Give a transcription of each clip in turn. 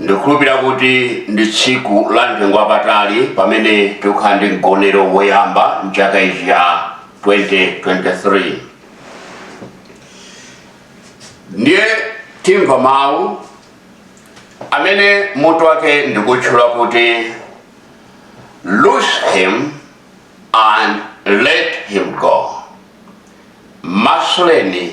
ndikhulupira kuti ndi tsiku la mtengo wapatali pamene tikukhala ndi mgonero woyamba mchaka ichi ya 2023 ndiye tikamva mawu amene mutu wake ndikutchula kuti loose him and let him go masuleni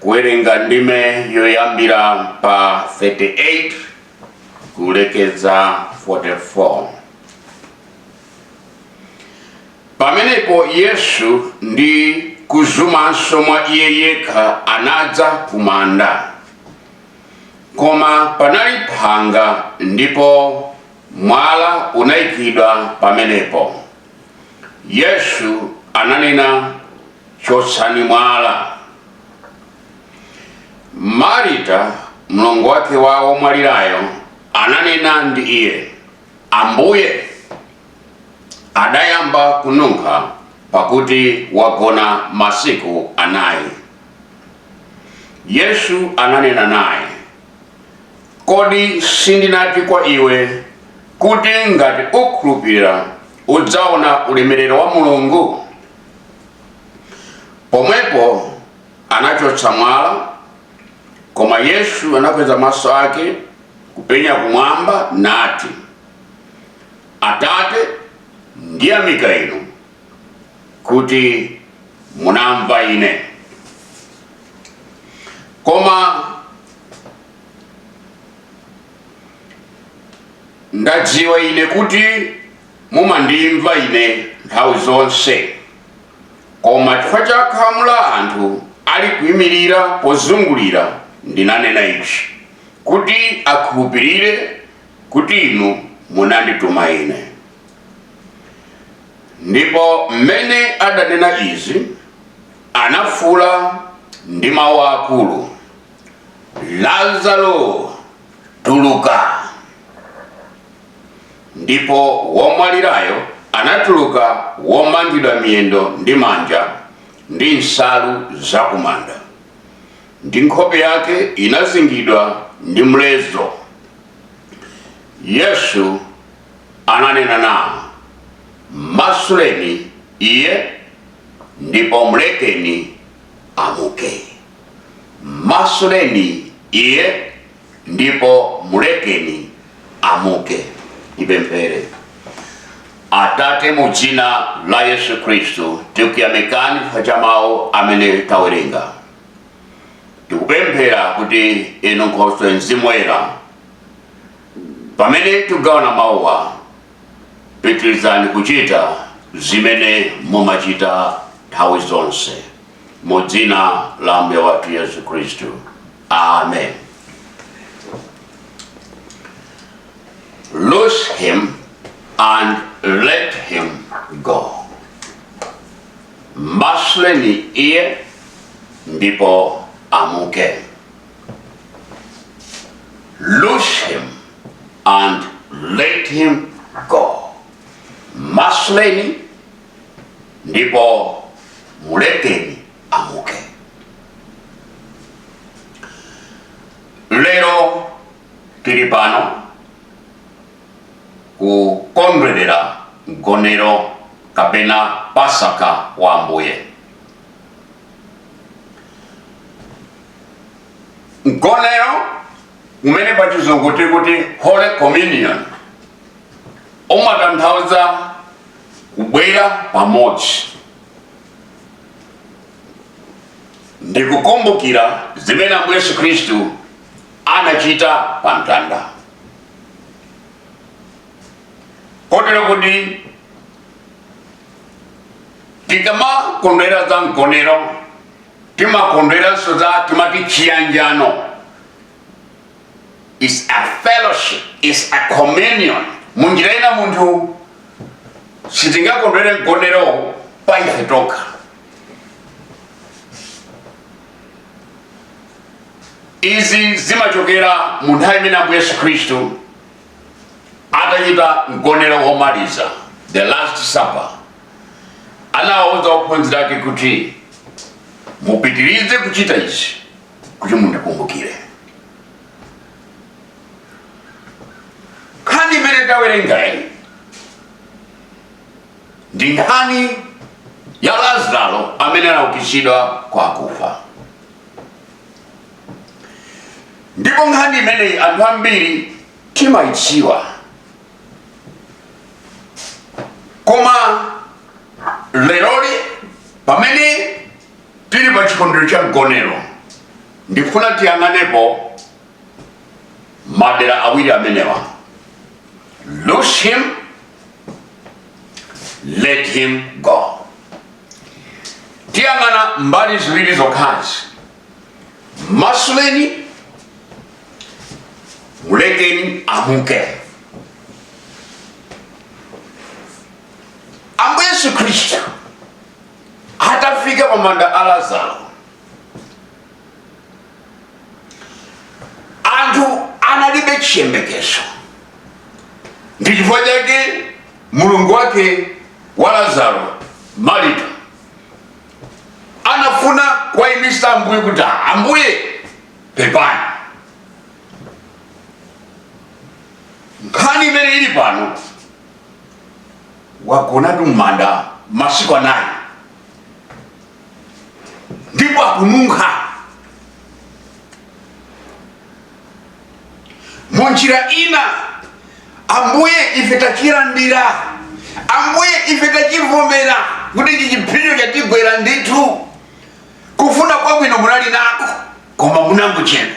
kuwerenga ndime yoyambira pa 38 kulekeza 44 pamenepo yesu ndi kuzumanso mwa iye yekha anadza kumanda koma panali phanga ndipo mwala unayikidwa pamenepo Yesu ananena chotsani mwala. Marita, mlongo wake wa womwalirayo, ananena ndi iye, Ambuye, adayamba kununkha, pakuti wagona masiku anayi. Yesu ananena naye, Kodi sindinati kwa iwe, kuti ngati ukhulupira udzaona ulemerero wa Mulungu? Pomwepo anachotsa mwala, koma Yesu anakweza maso ake kupenya kumwamba nati, Atate, ndiyamika inu kuti munamva ine. Koma ndadziwa ine kuti mumandimva ine nthawi zonse koma chifukwa cha khamu la anthu ali kuyimirira pozungulira ndinanena ichi kuti akhulupirire kuti inu munandituma ine ndipo mmene adanena izi anafuula ndi mawu akulu Lazaro, tuluka! Ndipo womwalirayo anatuluka womangidwa miyendo ndi manja ndi nsalu zakumanda, ndi nkhope yake inazingidwa ndi mlezo. Yesu ananena nawo, Masuleni iye, ndipo mlekeni amuke. M'masuleni iye, ndipo mulekeni amuke. Tipemphere. Atate, mu dzina la Yesu Khristu, tikuyamikani chifukwa cha mawu amene tawerenga. Tikupempha kuti inu Nkhoswe Mzimu Woyera, pamene tigawana mawuwa, Pitirizani kuchita zimene mumachita nthawi zonse. Mu dzina la Ambuye wathu Yesu Khristu. Amen. Loose him and let him go. Masuleni iye ndipo amuke. Loose him and let him go. Masuleni ndipo mulekeni amuke. Lero tili pano kukondwerera mgonero kapena pasaka wa Ambuye. mgonero umene pa chizungu tiri kuti holy communion umatanthauza kubwera pamodzi ndi kukumbukira zimene ambuye yesu khristu anachita pa mtanda kotero kuti tikamakondwerera mgonero timakondweranso za timati chiyanjano is a fellowship is a communion munjira ina munthu sitingakondwere mgonero pa ife tokha izi zimachokera mu nthawi imene ambuye yesu khristu atachita mgonero womaliza the last supper anawauza ophunzira ake kuti mupitirize kuchita ichi kuti mundikumbukire nkhani imene tawerengayi ndi nkhani ya lazaro amene anaukitsidwa kwa akufa ndipo nkhani imeneyi anthu ambiri timaidziwa koma leroli pamene tili pa chikondwerero cha mgonero ndikufuna tiyang'aneko madera awiri amenewa loose him let him go tiyang'ana mbali ziwiri zokhazi mmasuleni mulekeni amuke ambuye yesu khristu atafika pamanda a lazaro anthu analibe chiyembekezo ndi chifukwa chake mlongo wake wa lazaro marita anafuna kuwaimitsa ambuye kuti ambuye pepani nkhani imene ili pano wagonatu m'manda masiku anayi ndipo akununkha mu njira ina ambuye ife tachilandira ambuye ife tachivomera kuti ichi chipsinjo chatigwera ndithu kufuna kwabwino munali nako koma munangochedwa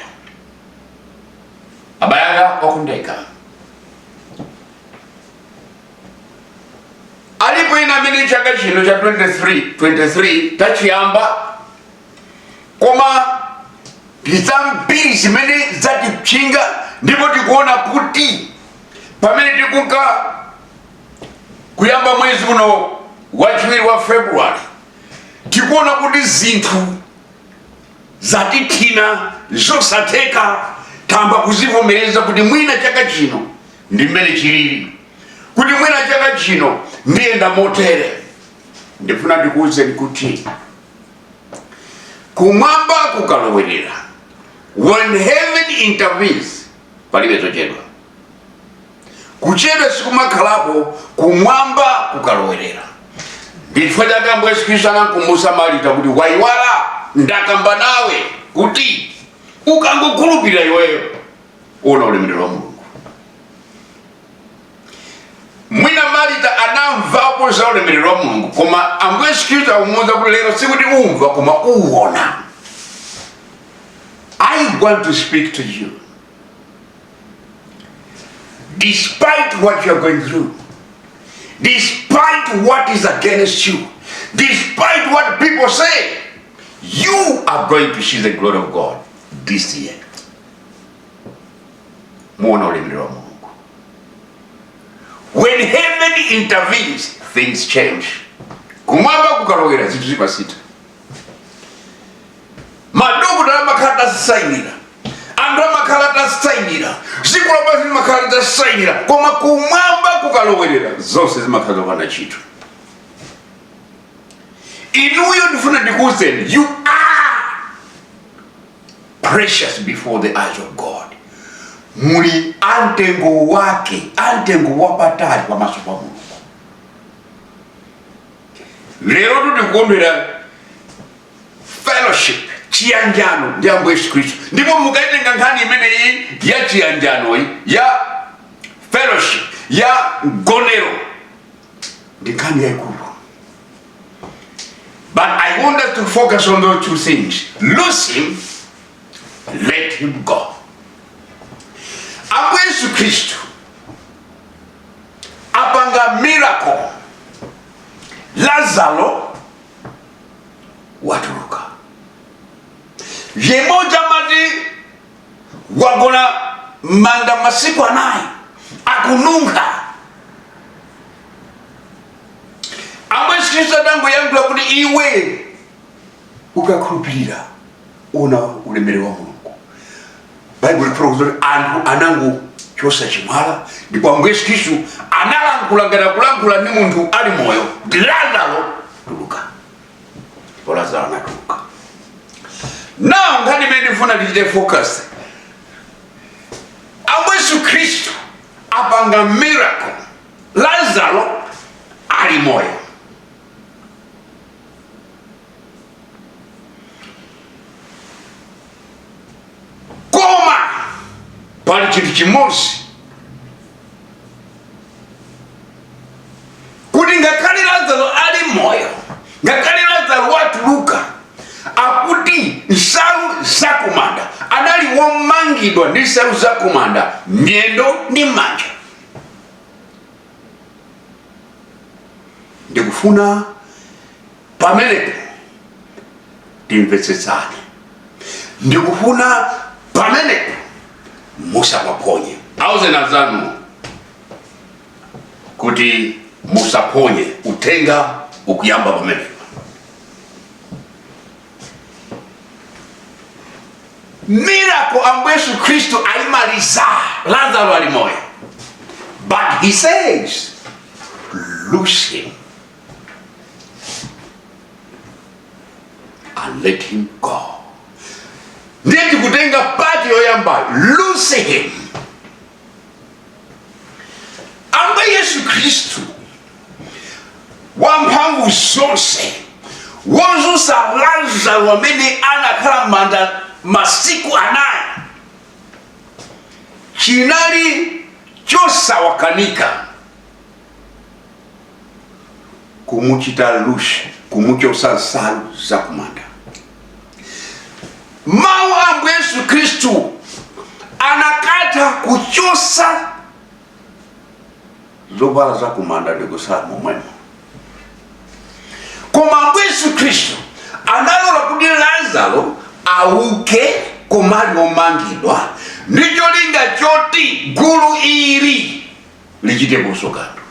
abale anga okondeka alipo ina amene chaka chino cha 20 23 tachiyamba koma ndizambiri zimene zatitchinga ndipo tikuona kuti pamene tikunka kuyamba mwezi uno wachiwiri wa februwari tikuona kuti zinthu zatithina zosatheka tamba kuzivomereza kuti mwina chaka chino ndi mmene chili kuti mwina chaka chino ndiyenda motere ndifuna ndikuwuzeni kuti kumwamba kukalowerera when heaven intervenes palibe zochedwa kuchedwa sikumakhalako kumwamba kukalowerera ndichifukwa chake ambuye yesu kristu anamkumbutsa malita kuti waiwala ndakamba nawe kuti ukangokhulupirira iweyo uona ulemerero wa mulungu mwina malita anamvapo za ulemerero wa mulungu koma ambuye yesu kristu akumuuza kuti lero sikuti umva koma uona i want to speak to you Despite what you're going through, despite what is against you, despite what people say, you are going to see the glory of God this year. Muona ulemerero wa Mulungu. When heaven intervenes, things change. Kumwamba kukalowera zinthu zimasintha. madokotala amakhala atasainira anthu amakhala atasainira dziko lapansi limakhala litasainira koma kumwamba kukalowerera zonse zimakhala zopanda ntchito inuyo ndifuna ndikuuzeni you are precious before the eyes of god muli amtengo wake amtengo wapatali pamaso pa mulungu lero tikukumbira fellowship chiyanjano ndi ambuye yesu khristu ndipo mukaitenga nkhani imeneyi ya chiyanjanoyi ya fellowship ya mgonero ndi nkhani yaikulu but i want us to focus on those two things lose him let him go ambuye yesu khristu apanga miracle lazaro watuluka yemwe uja amati wagona manda masiku anayi akununkha ambuye yesu khristu adangoyankhula kuti iwe ukakhulupirira uona ulemerero wa mulungu baibulo lifotokoza kuti anthu anangochosa chimwala ndipo ambuye yesu khristu analankhula ngati akulankhula ndi munthu ali moyo kuti lazaro tuluka ndipo lazaro anatuluka now nkhani imene ndifuna ndichite focus ambuye yesu khristu apanga miracle lazaro ali moyo koma pali chinthu chimodzi kuti ngakhale lazaro ali moyo ngakhale lazaro watuluka akuti nsalu zakumanda anali womangidwa ndi nsalu zakumanda miyendo ndi manja ndikufuna pamenepo timvetsetsane ndikufuna pamenepo musapaphonye auzeni anzanu kuti musaphonye uthenga ukuyamba pamenepo miracle ambuye yesu khristu ayimaliza lazaro ali moyo but he says loose him and let him go ndiye tikutenga part yoyamba loose him ambuye yesu khristu wamphamvu zonse wodzutsa lazaro amene anakhala mmanda masiku anayi chinali chosawakanika kumuchita loose kumuchotsa nsalu zakumanda mawu a ambuye yesu khristu akanatha kuchotsa zovala za kumanda ndi kutsala momwemo koma ambuye yesu khristu analola kuti lazaro auke koma ali omangidwa ndi cholinga choti gulu ili lichiteponso kanthu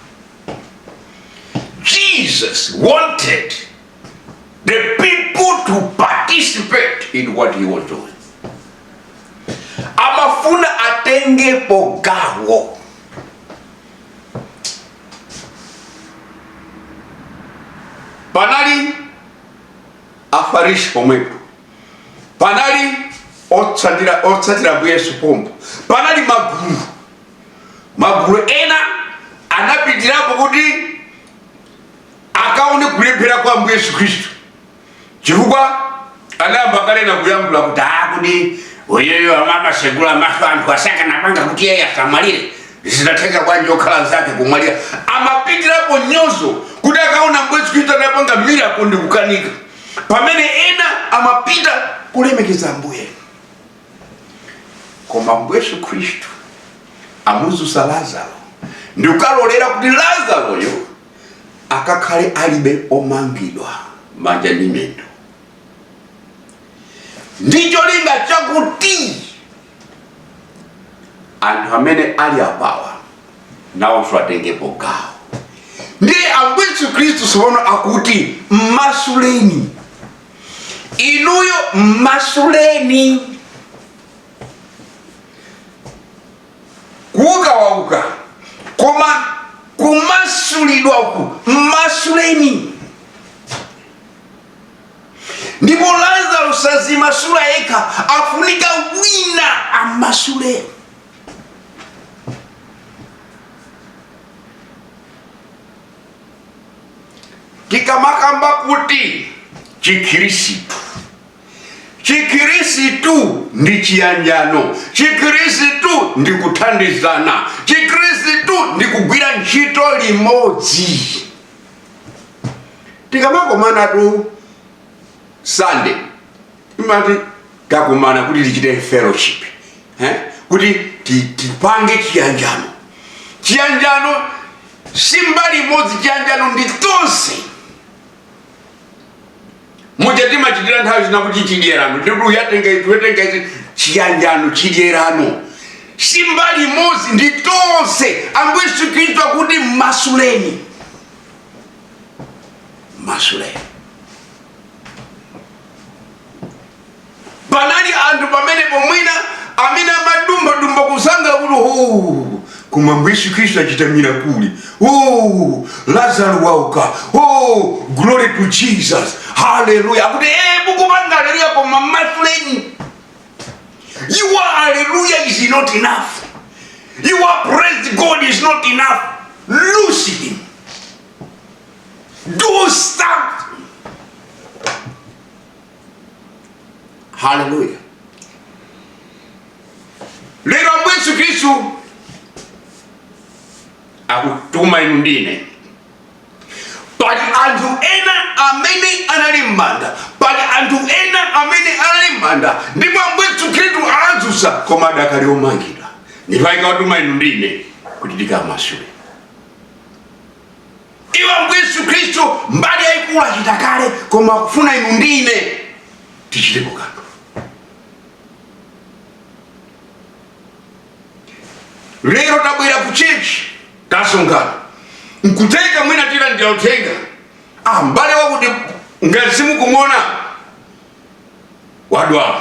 jesus wanted the people to participate in what he was doing amafuna atengepo gawo panali afarisi pomwepo panali otsatira ambuye yesu pompo panali magulu magulu ena anapitirapo kuti akaone kulephera kwa ambuye yesu khristu chifukwa anayamba kale na kuyankhula kuti akuti iyeyo amamasegula maso anthu sakanapanga kuti iyeyu asamwalire zinatheka bwanji okhala nzake kumwalira amapitirapo nyozo kuti akaone ambuye yesu khristu akupanga miracle ndi kukanika pamene ena amapita kulemekeza ambuye koma ambuye yesu khristu amudzutsa lazaro ndi kukalolera kuti lazaroyo akakhale alibe omangidwa manja ndi miyendo ndi cholinga chakuti anthu amene ali apawa nawonso atengepo gawo ndi ambuye yesu khristu tsopano akuti mmasuleni inuyo mmasuleni kuuka wauka koma kumasulidwa uku mmasuleni ndipo lazaro sadzimasula yekha afunika wina amasule tikamakamba kuti chikhirisitu Chikhristu ndi chiyanjano, Chikhristu ndi kuthandizana, Chikhristu ndi kugwira ntchito limodzi. Tikamakomanatu Sunday timati takomana kuti tichite fellowship eh? kuti tipange chiyanjano. Chiyanjano si mbali imodzi, chiyanjano ndi tonse. muja timachitira nthawi zina kuti chidyerano ndikuti wina atenga izi wina atenga izi chiyanjano chidyerano si mbali imodzi ndi tonse ambuye yesu khristu akuti mmasuleni mmasuleni panali anthu pamenepo mwina amene amadumbadumba kusangalala kuti huu koma ambuye yesu khristu achita mirakuli huu lazaro wauka huu glory to jesus haleluya akuti ee mukupanga haleluya koma mmasuleni your haleluya is not enough your praise god is not enough loose him do that haleluya lero ambuye yesu khristu akutuma inu ndi ine pali anthu ena amene anali m'manda pali anthu ena amene anali m'manda ndipo ambuye yesu khristu anawadzutsa koma adakali omangidwa ndipo akutuma inu ndi ine kuti tikawamasule iwe ambuye yesu kristu mbali yayikulu achita kale koma akufuna inu ndi ine tichitepo kanthu lero tabwera ku chechi tasonkhana nkutheka mwina tilandira uthenga ah mbale wakuti ngati simukumona wadwala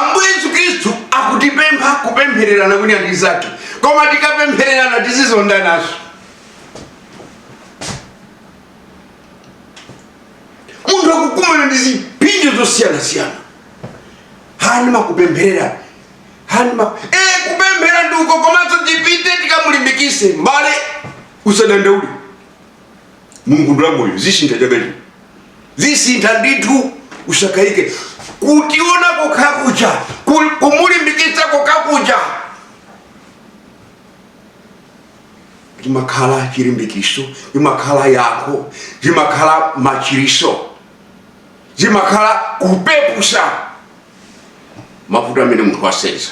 ambuye yesu khristu akutipempha kupemphererana wina ndi mnzake koma tikapemphererana tizizondananso munthu akukumana ndi zipsinjo zosiyanasiyana aa ndimakupempherera aa ndima e, kupemphera ndi uko komanso tipite tikamulimbikise mbale usadandaule mulungu ndi wamoyo zisintha chabecho zisintha ndithu usakayike kutiona kokhakuja ku- kumulimbikitsa kokhakuja chimakhala chilimbikiso chimakhala yankho chimakhala machiritso chimakhala kupepusa mavuto amene munthu wasenza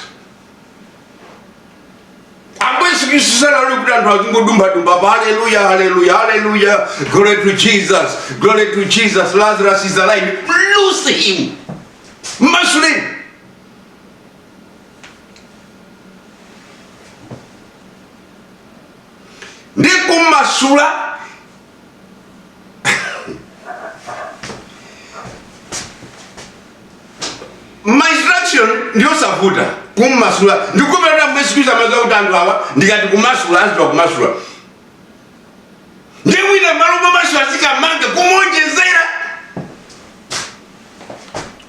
ambuye yesu khristu sanalole kuti anthu azingodumphadumpha pa haleluya haleluya haleluya glory to jesus glory to jesus lazarus is alive loose him mmasuleni ndi kumasula my instruction ndiyosavuta kummasula ndikupelera ambuye yesu kristu amaziwa kuti anthu awa ndikati kumasula aziwa kumasula ndi mwina malo momasula azikamanga kumuonjezera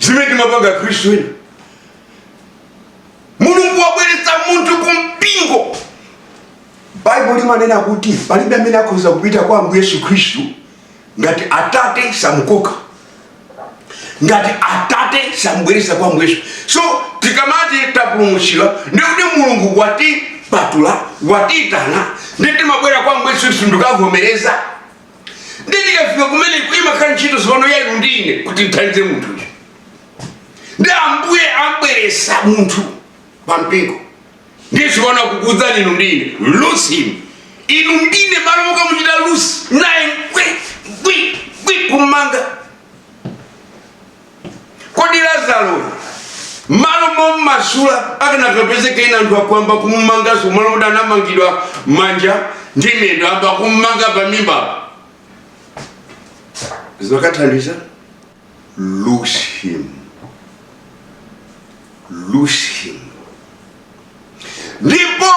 zimene timapanga akhristu ena mulungu wabweretsa munthu ku mpingo baibulo limanena kuti palibe amene akhoza kupita kwa ambuye yesu khristu ngati atate samukoka ngati atate samubweretsa kwa ambuye yesu so tikamati tapulumutsidwa ndikuti mulungu watipatula watiyitana ndi timabwera kwa ambuye yesu khristu ndikavomereza ndi tikafika kumeneko imakhala ntchito sopano yainu ndi ine kuti timthandize munthuyo ndi ambuye ambweresa munthu pa mpingo ndiziona kukuuzani inu ndi ine loose him inu ndi ine malo mokamuchita loose naye nkwi nkwi nkwi kummanga kodi lazaro malo mommasula akanakapezeka ena anthu akuyamba kummanganso malo kuti anamangidwa manja ndi miyendo ayamba kummanga pa mimba zinakathandiza loose him loose him ndipo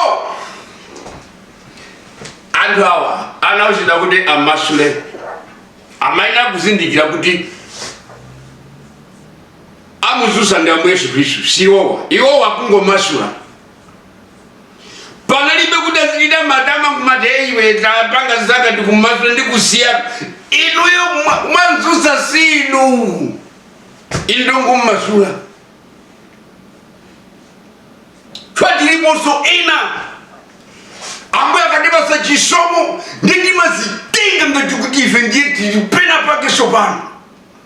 anthu awa anauzidwa kuti amasule amayenera kuzindikira kuti amuzusa ndi ambuye yesu khristu si iwowa iwowa kungomasula panalibe kuti azichita matama kumati ife tapanga zaka tikumasula ndi kusiyana inuyo mwa- mwamzusa si inu inu ndongomasula koma tiliponso ena ambuye akatipasa chisomo ndi timazitenga ngati kuti ife ndiye tili pena pake sopano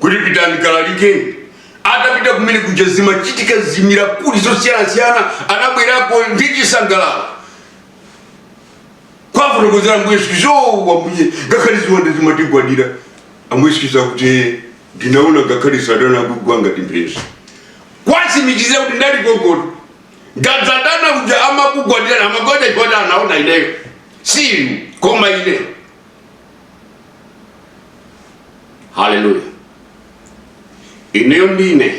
kuti pitani kalalike atapita kumene kuja zimachitika zimiracle zosiyanasiyana anabwerako ndi chisangalalo kuwafotokozera ambuye yesu kristu o ambuye ngakhale ziwanda zimatigwadira ambuye yesu kristu akuti "Eh, ndinaona ngakhale satana akugwa ngati mphezi kuwatsimikizira kuti ndali gogoda ngati satana uja amakugwadirani amagwada chifukwa choti anaona ineyo si inu koma ine haleluya ineyo ndi inu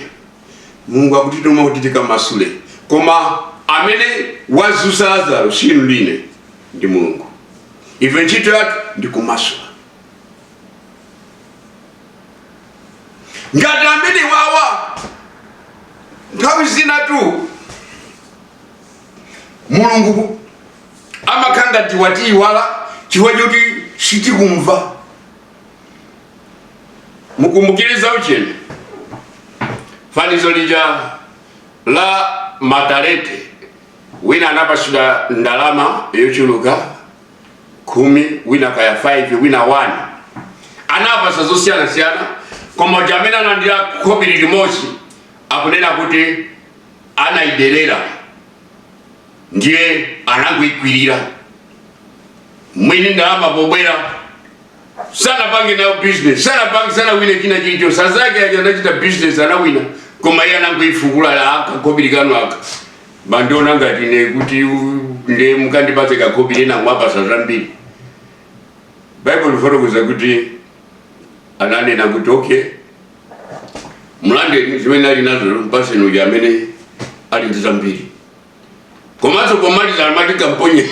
mulungu akutituma kuti tikamasule koma amene wadzutsa lazaro si inu ndi ine ndi mulungu ife ntchito yathu ndi kumasula nsalu zamaliro wawa nthawi zina tu mulungu amakhala ngati watiyiwala chifukwa choti sitikumva mukumbukire za uchenjezo fanizo lija la matalete wina anapatsidwa ndalama yochuluka khumi wina kaya 5 wina 1 anapatsa zosiyanasiyana koma uja amene analandira khobiri limodzi akunena kuti anayiderera ndiye anangoikwirira mwini ndalama pobwera sanapange nayo business sanapange sanawine china chilichonse anzake aja anachita business anawina koma iye anangoifukula la aka kobiri kanu aka mwandiona ngati ine kuti u- nde mukandipatse kakobiri ena mwapatsa zambiri baibulo likufotokoza kuti ananena kuti okay mlande zimene ali nazo mpatseni uja amene ali ndi zambiri komanso pomaliza amati kamponye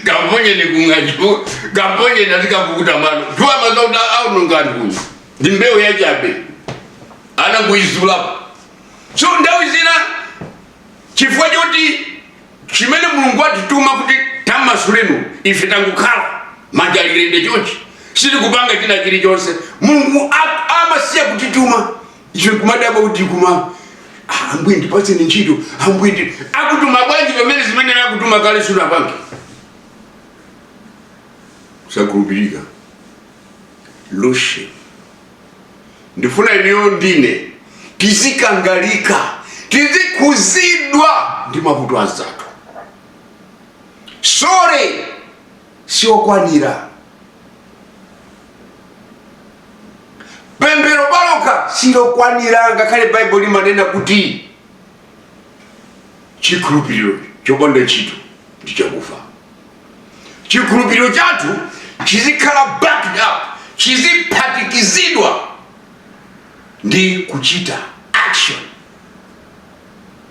kamponyeni kung'anjo kamponyeni azikakukuta mano juwa mazauta aononga anthu ndi mbewu yachabe anangoizulapo so nthawi zina chifukwa choti chimene mulungu atituma kuti tamasuleni ife tangokhala manja ali lende chonchi sitikupanga china chilichonse mulungu a- amasiya kutituma ife nkumadabwa kuti koma "Ah, ambuye ndipatseni ntchito ambuye nde akutuma bwanji pamene zimene akutuma kale sunapange kusakhulupirika leroli ndifuna ineyo ndi inu tizikangalika tizikhuzidwa ndi mavuto a anzathu sore siokwanira pemphero palokha silokwanira ngakhale baibulo limanena kuti chikhulupiriro chopanda ntchito ndi chakufa chikhulupiriro chathu chizikhala backed up chiziphatikizidwa ndi kuchita action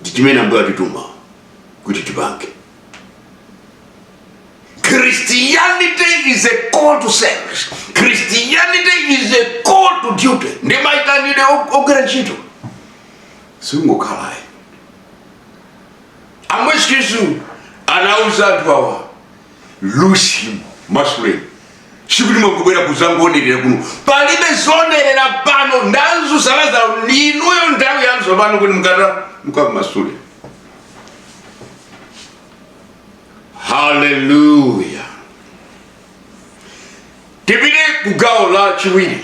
ndi chimene Ambuye akutituma kuti tipange christianity is a call to service christianity is a call to duty ndi maitanidwe og- ogwira ntchito sikungokhala ayi ambuye yesu anauza anthu awa loose him mmasuleni sikuti mwangobwera kuzangoonerera kuno palibe zonerera pano ntchito yatsalayo ndi inuyo nthawi yanu tsopano kuti mukata mukammasule haleluya tipite ku gawo la chiwiri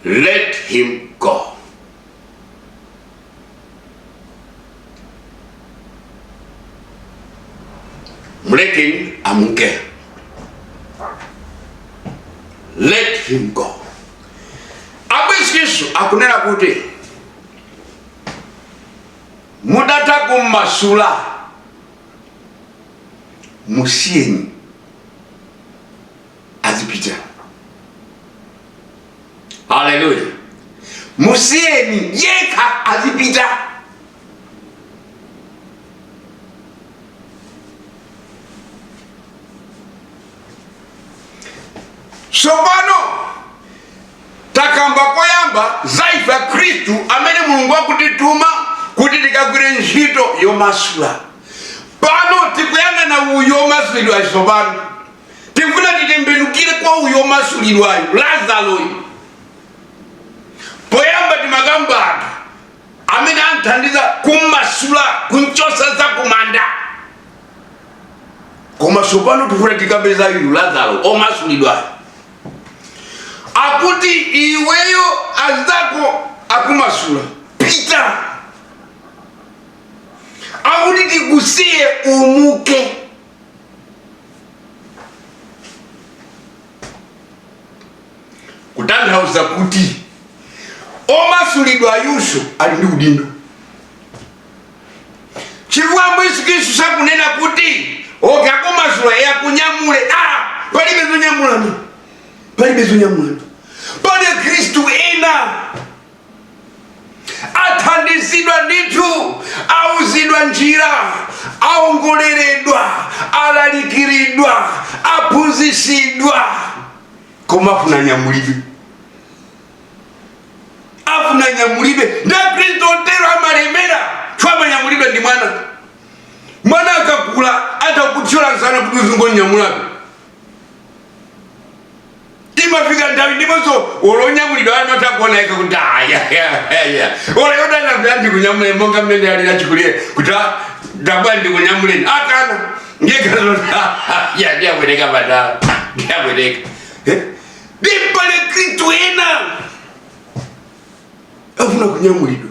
let him go Mulekeni amuke. Let him go. Ambuye Yesu akunena kuti mukatha kummasula musiyeni azipita haleluya musiyeni yekha azipita tsopano takamba poyamba za ife akhristu amene mulungu akutituma kuti tikagwire ntchito yomasula pano tikuyang'ana uyo omasulidwayo tsopano tikufuna titembenukire kwa uyo omasulidwayo lazaloyo poyamba timakamba anthu amene anthandiza kummasula kumchosa za kumanda koma sopano tikufuna tikambe za uyu lazaro omasulidwayo akuti iweyo azako akumasula pita akuti tikusiye umuke kutanthauza kuti omasulidwayunso ali ndi udindo chifukwa ambuye yesu khristu sakunena kuti oke akumasula e akunyamule a palibe zonyamulana palibe zonyamulana pali akhristu ena athandizidwa ndithu auzidwa njira aongoleredwa alalikiridwa aphunzisidwa koma afuna nyamulidwe afuna nyamulidwe nde akhristu otero amalemera amanyamulidwa ndi mwana mwana akakula atha kuthyola msana kuti uzingonyamulabe imafika nthawi ndiponso olonyamulidwa ana otangonenepa kuti ayayaya olayodana kuti andikunyamule monga mmene ali achikulire kuti tabwerani ndikunyamuleni akana ngekazondiabwereka patala ndiabwereka alipo akhristu ena afuna kunyamulidwa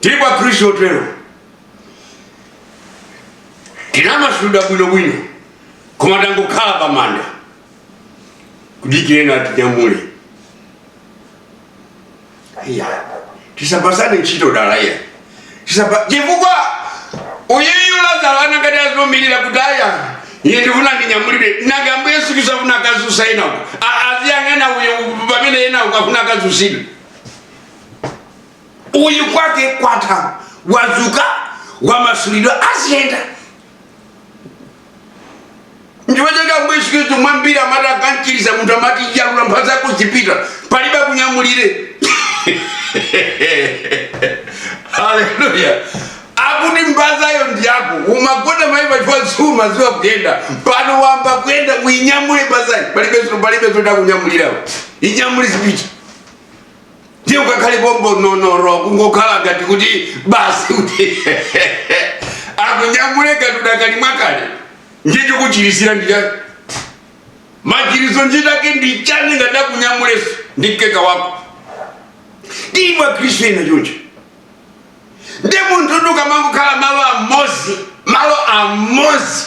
tilipo akhristu otero tinamasulidwa bwinobwino koma tangokhala pamanda kudikira atinyamule iya tisapatsane ntchito dala iya Tisapa- chifukwa uyeyu lazaro anakati adzomilira kuti aya iye ndifuna ndinyamulire nanenso ambuye yesu kristu afuna akadzutsa enawo aziyang'ana uyo pamene enawo afuna akadzutsidwe uyu kwake kwatha wadzuka wamasulidwa aziyenda n'chifukwa chake ambuye yesu khristu mwambiri amati akamchiritsa munthu amati yalula mphasa yako uzipita palibe akunyamulire haleluya akuti mphasayo ndi yako umagona muja pachifukwa sumadziwa kuyenda pano wamba kuyenda uinyamule mphasayo palibe palibe zoti akunyamulirenso inyamule uzipita ndiye ukakhale pompo nonono kungokhala ngati kuti basi kuti akunyamule ngati udakali mwakale ndiye chokuchirisira ndi chani machiritso ntchito yake ndi chani ngati akunyamuleso ndi mkeka wako ndimo akhristu ena choncho ndi munthu ukamangokhala malo amodzi malo amodzi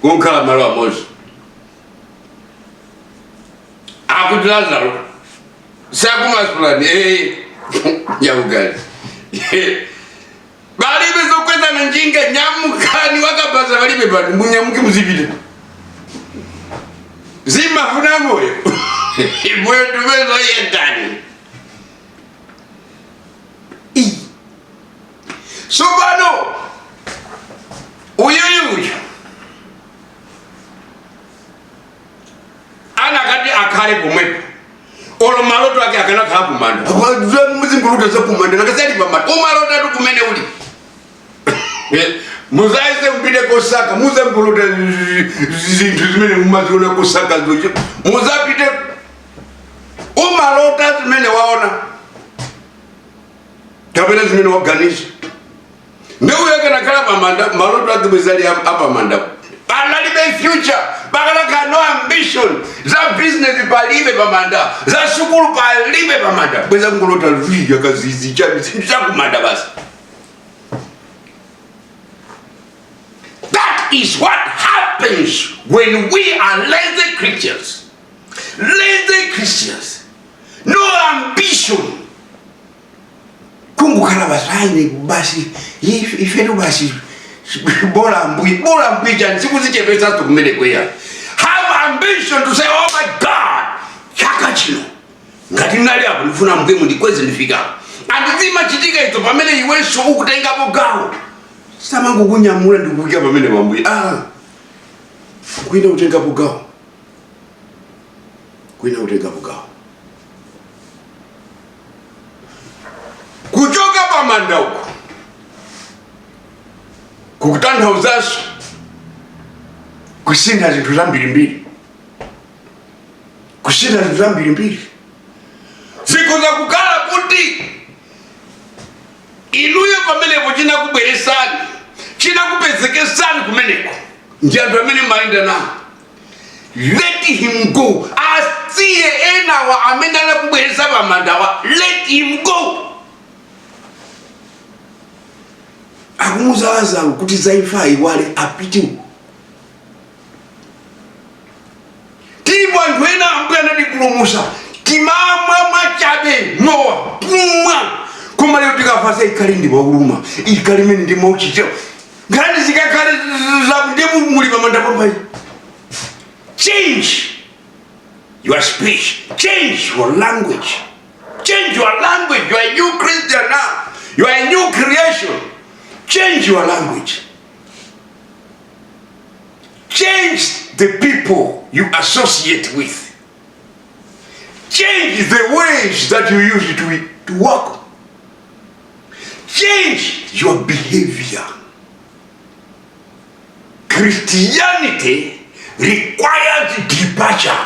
kukhala malo amodzi akuti lazaro takumasulani ee nyamukani palibe zokwezana njinga nyamukani wakabaza palibe pano munyamuke muzipita timafuna moyo moyo tumezoyendani tsopano uyuyuyu anakati akhale pomwepo olo maloto ake akanakhala kumanda muzingolota zakumanda mukakhala pamanda umalotatu kumene uli mudzayese mpite kosaka mudzangolota zinthu zimene mumaziona kosaka choncho mudzapite umalota zimene waona kapena zimene waganiza ndeu yake nakhala pamanda maloto ake bwenzi ali apamanda analibe future pakanakhala no ambition za business palibe pamanda za sukulu palibe pamanda bwenzi akungolota lvi yakazizi chabe chakumanda basi that is what happens when we are lazy creatures lazy christians no ambition kungokhala basi a ine basi if- ifetu basi bola mbuye bola mbuye chani sikuzichepesatu kumeneko eya have ambition to say oh my god chaka chino ngati nali apo ndifuna ambuye mundikweze ndifike and zimachitika izo pamene iwenso ukutengapo gawo samangokunyamula ndikukuika pamene ambuye ah kuina kutengapo gawo kuyenera kutengapo gawo kuchoka pa manda uku kukutanthauzanso kusintha zinthu zambirimbiri kusintha zinthu zambirimbiri zikhoza kukhala kuti inuyo pamenepo chinakubweresani chinakupezekesani kumeneko ndi anthu amene mumayenda nawo let him go asiye enawa amene anakubweresa pamandawa let him go akumuza lazaro kuti zaimfa ayiwale apite tilipo anthu ena ambuye anatipulumusa timamwa mwachabe mowa kumwa koma lero tikafasa tikali ndi wakuluma tikali mmene ndi mauchicheo nkhani zikakhale zaku ndiye mu- muli pamanda pambayi change your speech change your language change your language you are a new christian now you are a new creation change your language change the people you associate with Change the ways that you use to, to work. Change your behavior. Christianity requires departure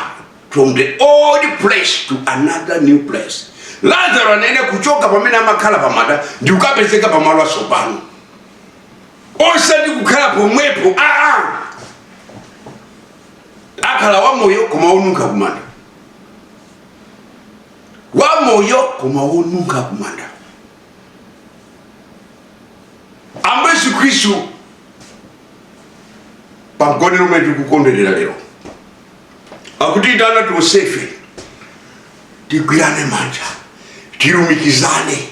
from the old place to another new place. Lazaro anayenera kuchoka pamene amakhala pamanda ndi kukapezeka pamalo atsopano osati kukhala pomwepo aa ah, ah. akhale wamoyo koma wonunkha kumanda wamoyo koma wonunkha kumanda ambuye yesu khristu pamgonero umene tikukondwerera lero akutiitana tonsefe tigwirane manja tilumikizane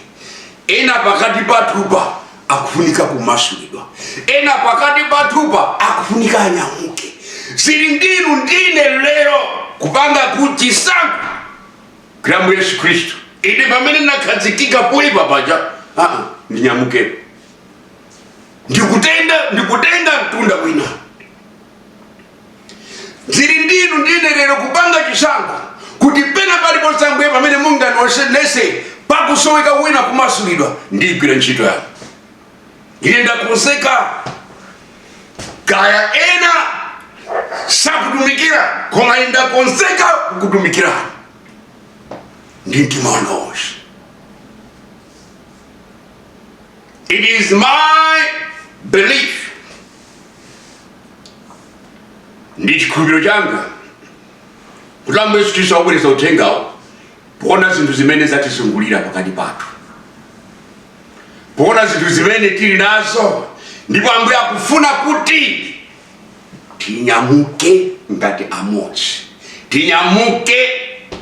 ena pakati pathupa akufunika kumasulidwa ena pakati pathupa akufunika anyamuke zili ndinu ndine lero kupanga chisankho kulola yesu khristu ine pamene nakhazikika poipa paja aa ndinyamukepo ndikutenga ndikutenga mtunda wina zili ndinu ndine lero kupanga chisankho kuti pena paliponse ambuye pamene mungandiwonese pakusoweka wina kumasulidwa ndigwira ntchito yanu ine ndakonzeka kaya ena sakutumikira koma ine ndakonzeka kukutumikirani ndi mtima wanga wonse it is my belief ndi chikhulupiriro changa kuti ambuye yesu khristu akubweretsa uthengawu poona zinthu zimene zatizungulira pakati pathu poona zinthu zimene tili nazo ndipo ambuye akufuna kuti tinyamuke ngati amodzi tinyamuke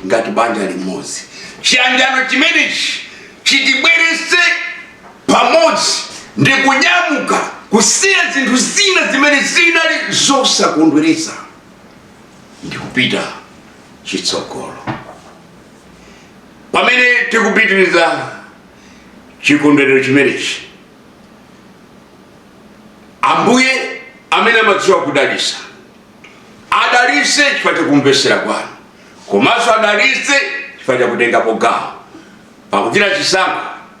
ngati banja limodzi chiyanjano chimenechi chitibweretse pamodzi ndi kunyamuka kusiya zinthu zina zimene zinali zosakondweretsa ndi kupita chitsogolo pamene tikupitiriza chikondwerero chimenechi ambuye amene amadziwa kudalisa adalise chifukwa chakumvesera kwanu komanso adalise chifukwa chakutengapo gawo pakuchita chisankho